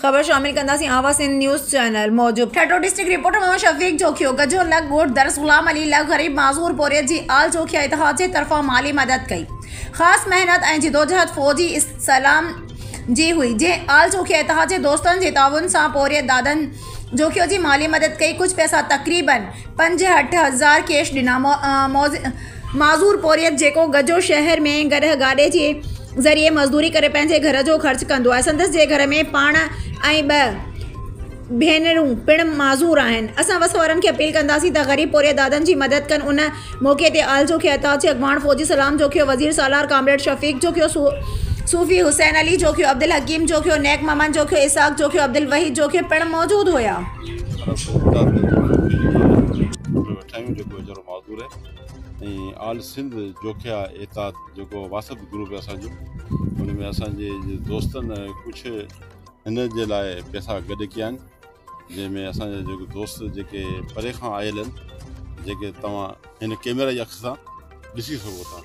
خبر شامل ڪنداسين آواز سنڌ نيوز چينل موجب ٺٽو ڊسٽرڪٽ رپورٽر محمد شفيق جوکيو گجو لڳ ڳوٺ درس غلام علي لڳ غريب معذور پورهيت جي آل جوکيا اتحاد جي طرفان مالي مدد ڪئي خاص محنت ۽ جدوجهد فوجي اسلام جي هئي جنهن آل جوکيا اتحاد جي دوستن جي تعاون سان پورهيت دادن جوکيو جي مالي مدد ڪئي ڪجهه پئسا تقريبن پنج هٺ هزار ڪيش ڏنا معذور پورهيت جيڪو گجو شهر ۾ گڏهه گاڏي جي ذريعي مزدوري ڪري پنهنجي گهر جو خرچ ڪندو آهي سندس جي گهر ۾ پاڻ ۽ ٻه ڀينرون پڻ معذور آهن اسان وس وارن کي اپيل ڪنداسين ته غريب پورهيت دادن جي مدد ڪن ان موقعي تي آل جوکي اتحاد جي اڳواڻ فوجي سلام جوکيو وزير سالار ڪامريڊ شفيق جوکيو صوفي حسين علي جوکيو عبدالحڪيم جوکيو نيڪ محمد جوکيو اسحاق جوکيو عبدالوحيد جوکيو پڻ موجود هيا ۽ آل سنڌ جوکيا احتاط جيڪو واسط گروپ آهي اسان جو ان ۾ اسان جي دوستن ڪجهه هن جي لاء پيسا گڏ ڪيا آهن جنهن ۾ اسان جا جيڪي دوست جيڪي پري کان آيل آهن جيڪي توهان هن ڪيميرا جي اک سان ڏسي سگهو ٿا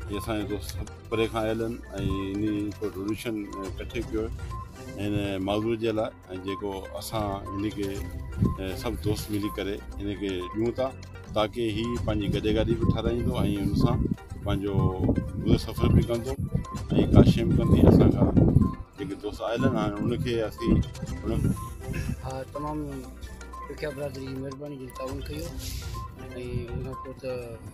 هي اسان جا دوست پري کان آيل آهن ۽ انهي ڊونيشن ڪٺي ڪيو آهي هن معذور جي لاء ۽ جيڪو اسان هن کي سڀ دوست ملي ڪري هن کي ڏيون ٿا تاڪي هي پنهنجي گڏي گاڏي به ٺاراهيندو ۽ ان سان پنهنجو گذر سفر به ڪندو ۽ ڪا شيم ڪندي اسان کان جيڪي دوست آيل آهن هاڻي ان کي اسين ان ها تمام ڏکيا برادري جي مهرباني جي تعاون ڪيو ۽ ان کان پوء ته